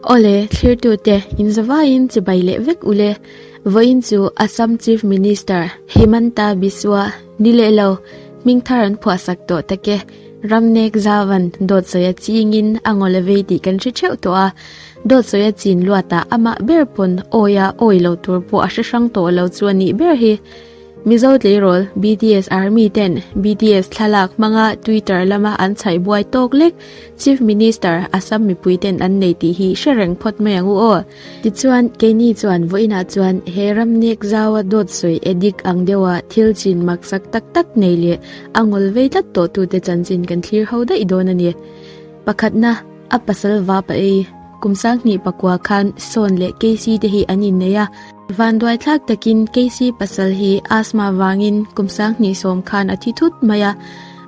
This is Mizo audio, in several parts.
Awle, thlirtute, inzavaiin chibai leh vek ule. Vawiin chu Assam Chief Minister Himanta Biswa ni leh lo, hming thar an phuahsak tawh tak e. Ram nek zavan dawtsawiha chingin a ngaw la vei tih kan hre theuh tawh a. Dawtsawiha chin luatah amah ber pawn awia awi lo tur pawh a hre hrang tawh lo chu a nih ber hi. Mizo tleirawl bts army ten bts thlalak hmanga twitter lama an chhaih buai tawk lek, Chief Minister Assam mipui ten an nei tih hi hre reng phawt mai ang u aw. Tichuan keini chuan vawiin ah chuan he ram nek zau a dawt sawi e dik ang deuh a thil chin maksak tak tak nei leh a ngawl vei tlat tawh tu te chanchin kan thlir ho daih dawn a ni. Pakhatna a pasal vapa ei kum sang hnih pakua khan Sawn leh KC te hi an innei a, Vanduai tlak takin KC pasal hi asthma vangin kum sang hnih sawm khan a thi thut mai a.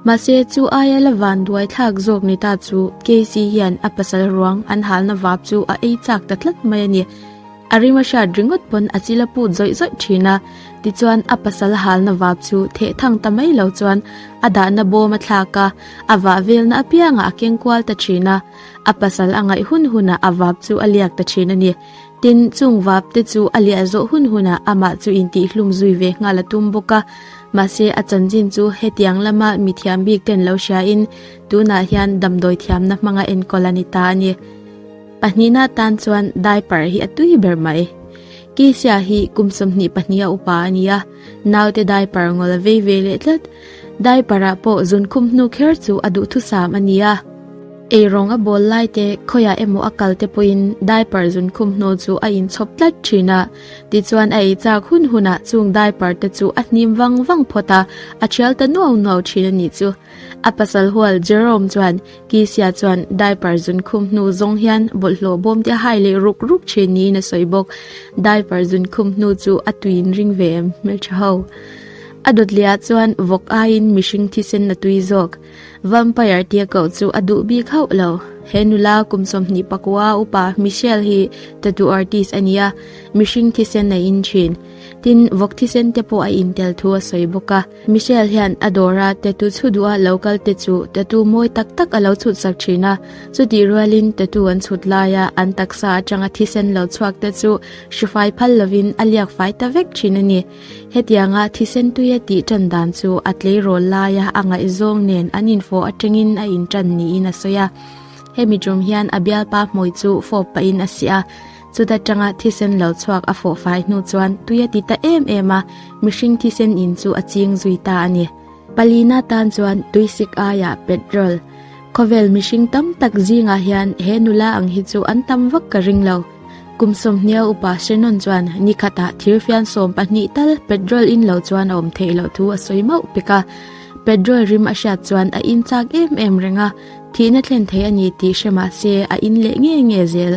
Mahse, chu aia la vanduai tlak zawk ni ta chu KC hian a pasal ruang an halna vap chu a ei chak ta tlat mai a ni. A rima hriat ringawt pawn a chil a put zawih zawih thin a, tichuan a pasal halna vap chu theh thang ta mai lo chuan a dahna bawm a thlak a, a vah velna apiangah a keng kual ta thin a, a pasal a ngaih hun hunah a vap chu a liak ta thin a ni. Tin, chung vapte chu a liah zawh hun hunah amah chu intihhlum zui ve nghal a tum bawk a. Mahse, a chanchin chu hetiang lama mi thiam bik ten lo hriain tunah hian damdawi thiamna hmanga enkawl a ni ta a ni. Pahnih na atan chuan diaper hi a tui ber mai. Keisia hi kum sawmhnih pahnih a upa a ni a. Naute diaper ngol a vei ve leh tlat. Diaper ah pawh zun khum hnu kher chu a duhthusam a ni a. Ei rawng a bawl lai te, khawiah emaw a kal te pawhin diaper zun khum hnu chu a inchhawp tlat thin a. Tichuan a ei chak hun hunah chung diaper te chu a hnim vang vang phawt a, a thial ta nuau nuau thin a nih chu. A pasal hual Jerome chuan, Kisia chuan diaper zun khum hnu zawng hian bawlhhlawh bawmte hai leh ruk ruk thin niin a sawi bawk. Diaper zun khum hnu chu a tuiin ring ve em hmel tha ho. A dawtliah chuan vawk aiin mihring thisen a tui zawk. Vampire tia koh chu a duh bik hauh lo. He nula kum sawmhnih pakua upa Michelle hi tattoo artist a nia, mihring thisen a in thin. Tin, vawk thisente pawh a intel thu a sawi bawk a. Michelle hian a dawra tattoo chhu duha lo kal te chu tattoo mawi tak tak a lo chhut sak thin a. Chutih rualin tattoo an chhut laia an taksa atanga thisen lo chhuak te chu hri fai phal lovin a liak fai ta vek thin a ni. Hetianga thisen tuia tih tan dan chu a tleirawl laia a ngaihzawng nen an infawh atangin a intan niin a sawi a. Hemi tum hian a bialpa hmawih chu fawp pahin a si a, Chuta tanga thisen lo chhuak a fawh fai hnu chuan tui a ti ta em em a, mihring thisen in chu a ching zui ta a ni. Palina tan chuan tui sik aiah petrol khawvel mihring tam tak zingah hian he nula ang hi chu an tam vak ka ring lo. Kum sawmhnia upa Shannon chuan ni khatah thir fian sawm pahnih tal petrol in lo chuan a awm theih loh thu a sawi mauh pek a. Petrol rim a hriat chuan a in chak em em reng a, thihna thlen thei a ni tih hre mah se a in leh nge nge zel.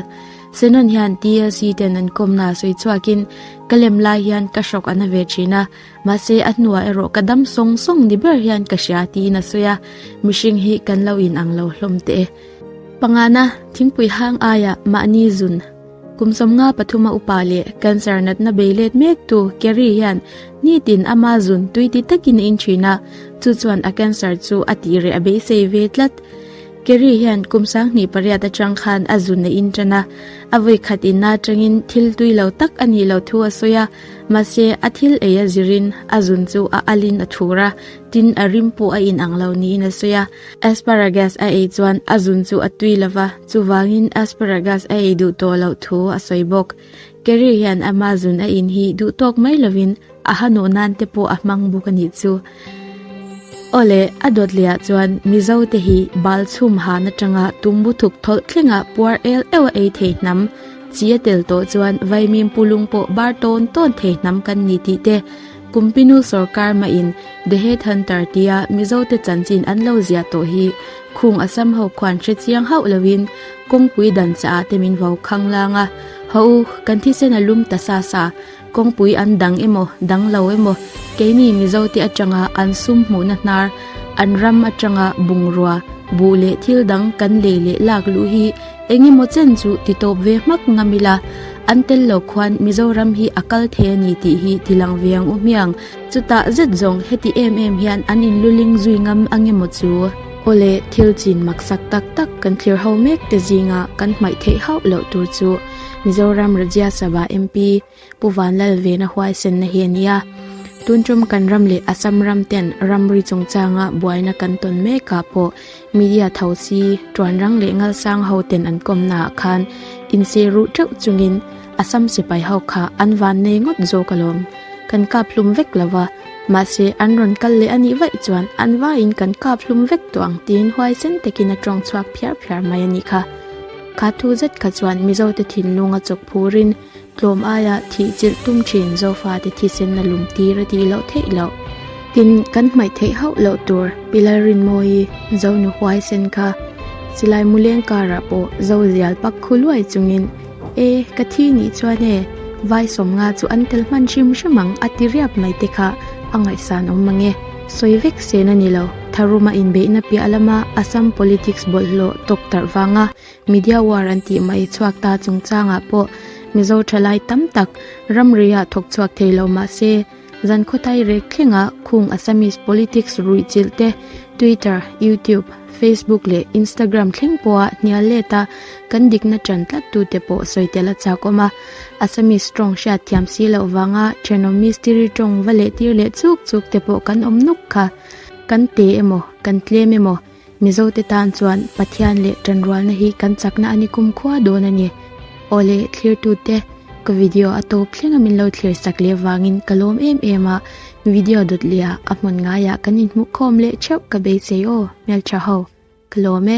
Senon hian TLC ten an kawmna a sawi chhuakin, Ka lem lai hian ka shock a na ve thin a, mahse a hnuah erawh ka dam sawng sawng ni ber hian ka hria tiin a sawi a, mihring hi kan lo in ang lo hlawm teh e. Pangngaina, thingpui hang aia mahni zun kum sawmnga pathuma upa leh cancer natna bei let mek tu Kerry hian nitin ama zun tuiti takin a inthin a, chu chuan a cancer chu a tih reh a beisei ve tlat. Kerry hian kum sanghnih pariat atang khan a zun a inṭan a, a vawi khat inna atangin thil tui lo tak a nih loh thu a sawi a, mahse a thil ei a zirin a zun chu a alhin a thur a, tin a rim pawh a inang lo niin a sawi a. Asparagus a ei chuan a zun chu a tui lova, chuvangin asparagus a ei duh tawh loh thu a sawi bawk. Kerry hian Amazon a in hi duh tawk mai lovin a hanawh nan te pawh a hmang bawk a nih chu. Awle, a dawt leh ah chuan Mizo te hi bal chhum han atanga tumbu thuk tholh thleng ah puar el eu a ei thei hnam. Chi a tel tawh chuan Vaimim pu lung pawh bar tawn tawn thei hnam kan ni tih te. Kumpinu sorkar mah in The Head Hunter tia Mizote chanchin an lo ziah tawh hi khung a sam ho khuan hre chiang hauh lo in kawngpui dan caah te min vo khang lang a, haw u, kan thisen a lum ta sa sa, kawngpui an dang emaw, dang lo emaw, keini Mizote atanga an sum hmuhna hnar, an ram atanga bungrua, buh leh thil dang kan lei leh lak luh hi Eng emaw chen chu ti tawp ve hmak ngam ila, an tel lo khuan Mizoram hi a kal thei a ni tih hi ti lang ve ang u hmiang. Chutah zet zawng heti em em hian an in luling zui ngam ang emaw chu? Awle, thil chin maksak tak tak kan thlir ho mek te zinga kan hmaih theih hauh loh tur chu Mizoram Rajya Sabha MP, Pu Van Lalvena huaisenna hi a ni a, tun ṭawmkan ram leh a cham ram ten ramri chungchanga buaina kan tawn mekah pawh media tho si ṭuanrang leh ngalsang ho ten an kawmnaah khan inse ruh ṭeuh chungin a sam sipai ho kha an vannei ngawt zawk alawm kan kap hlum vek lova mahse an rawn kal leh anih vaih chuan an vaiin kan kap hlum vek tawh ang tiin huaisen takin a ṭawng chhuak phiar phiar mai anih kha kha thu zet kha chuan Mizote thinlunga chawk phurin Tlawm aiah thih chilh tum thin Zofate thisenna lum tir a ti loh theih loh. Tin, kan hmaih theih hauh loh tur Pilai Rinmawi Zonu huaisen kha silai muleng karah pawh Zo zial pak khu luai chungin, E, ka thi nih chuan e, Vai Sawmnga chu an tel hman hrim hrim ang a ti riap mai te kha a ngaihsan awm ang e. Sawi vek sen a ni lo, Tharuma inbeihna piah lama Assam politics bawlhhlawh tawk tarh vanga Media war an tih mah i chhuak ta chungchangah pawh Mizo thalai tam tak ramriah thawk chhuak thei lo mah se, zan khawtai rek thlengah khung Assamese politics ruih chilh te Twitter, YouTube, Facebook leh Instagram thleng pawha hnial let a kan dikna ṭan tlat tu te pawh sawi tel a chak awm a. Assamese ṭawng hriatthiam si loh vanga ṭhenom mistiri ṭawng va lehtir leh chuk chuk te pawh kan awm nuk kha kan te emaw kan tlem emaw, Mizote tan chuan Pathian leh tanrualna hi kan chakna a ni kum khua dawn a ni. Awle thlirtute, ka video a to thlenga min lo thlir sak leh vangin ka lawm em em a, video dawt leh a a hmun ngaiah kan inhmuh khawm leh theuh ka beisei aw, Hmeltha ho. Ka lawm e.